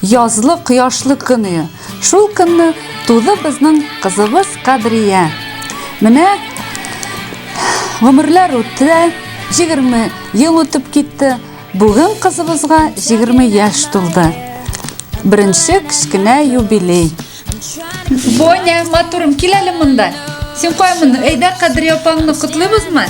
Язлы кояшлы көне. Шул көнне туды безнең кызыбыз Кадрия. Менә гомерләр үтте, 20 ел үтеп китте. Бүген кызыбызга 20 яшь тулды. Беренче кечкенә юбилей. Боня, матурым, кил әле монда. Син кай моны? Әйдә, Кадрия апаңны котлыйбызмы?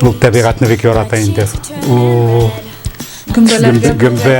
Ул табигатьне бик ярата инде. Ул Гөмбәләргә гөмбә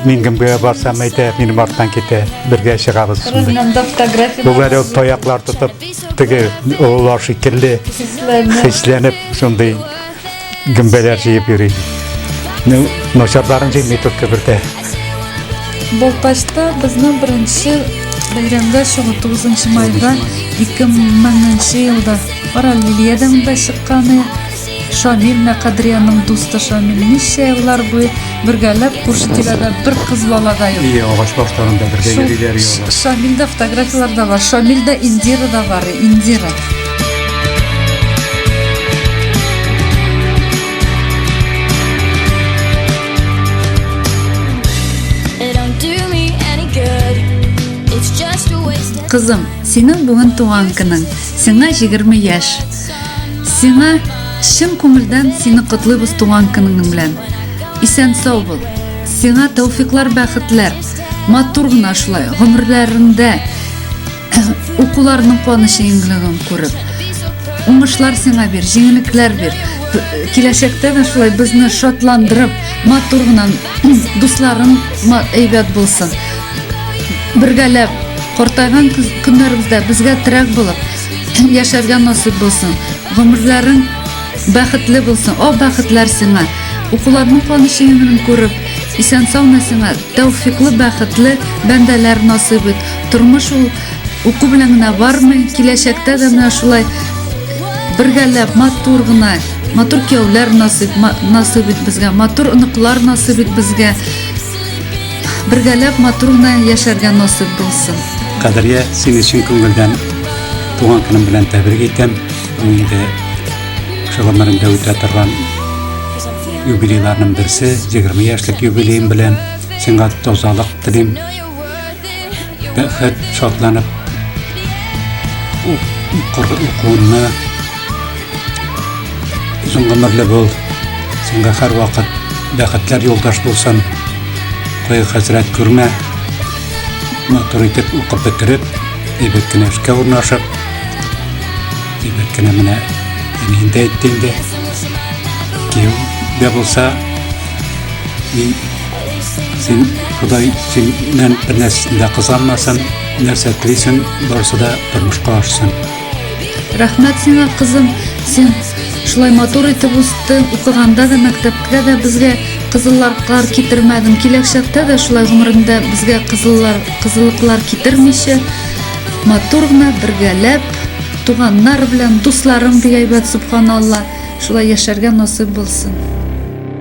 мин гөмбәгә барсам әйтә, минем арттан китә. Бергә чыгабыз шунда. Монда фотография. Бүләр ул таяклар тотып, теге олар шикелле хисләнеп шундый гөмбәләр җыеп йөри. Ну, начарларын җыймый тут кебертә. Балтачта безнең беренче бәйрәмгә чыгу 9 майда 2000 елда Арал Лилиядән дә чыкканы Шамил Мәкадриянең дусты Шамил ничә еллар буе бергәләп күрше тирәдә бер кыз бала да юк. Ие, агач башларында бергә йөриләр юлда. Шамилдә фотографияләр дә бар. Шамилдә Индира да бар, Индира. Кызым, синең бүген туган көнең. Сиңа 20 яшь. Сиңа чын күңелдән сине котлыйбыз туган көнеңнең белән. Исән сау бул. Сиңа тәүфиклар, бәхетләр. Матур гына шулай гомерләрендә укуларның куанышы иңлеген күреп. Уңышлар сиңа бир, җиңелекләр бир. Киләчәктә дә шулай безне шатландырып, матур гына дусларың әйбәт булсын. Бергәләп картайган көннәребездә безгә терәк булып, яшәргә насыйп булсын гомерләрең бәхетле булсын о бәхетләр сиңа укуларның куанышы гомерен күреп исән саумы сиңа тәүфиклы бәхетле бәндәләр насыйп ит тормыш ул уку белән генә бармый киләчәктә дә менә шулай бергәләп матур гына матур кияүләр насыйп насыйп ит безгә матур оныклар насыйп ит безгә Бергәләп матур гына яшәргә насыйп булсын. Кадриә, син өчен күңелдән туган көнем белән тәбрик итәм. Ул инде шул гомерендә үтә торган юбилейларның берсе, 20 яшьлек юбилеем белән сиңа тазалык телим. Бәхет шатланып укырга укуына озын гомерле бул. Сиңа һәр вакыт бәхетләр юлдаш булсын. Кое хәзрәт күрмә. Матур итеп укып бетереп, әйбәт кенә эшкә урнашып, әйбәт кенә менә инде әйтте инде. Кем дә булса, Син Ходай синнән бер нәрсәсен дә кызанмасын, нәрсә телисең, барысы да тормышка ашсын. Рәхмәт сиңа, кызым. Син шулай матур итеп үстең, укыганда да, мәктәпкә дә безгә кызылларклар китермәдең. Киләчәктә дә шулай гомерендә безгә кызыллар, кызыллыклар китермичә, матур гына бергәләп, туганнар белән, дусларым бик әйбәт, субханалла, шулай яшәргә насыйп булсын.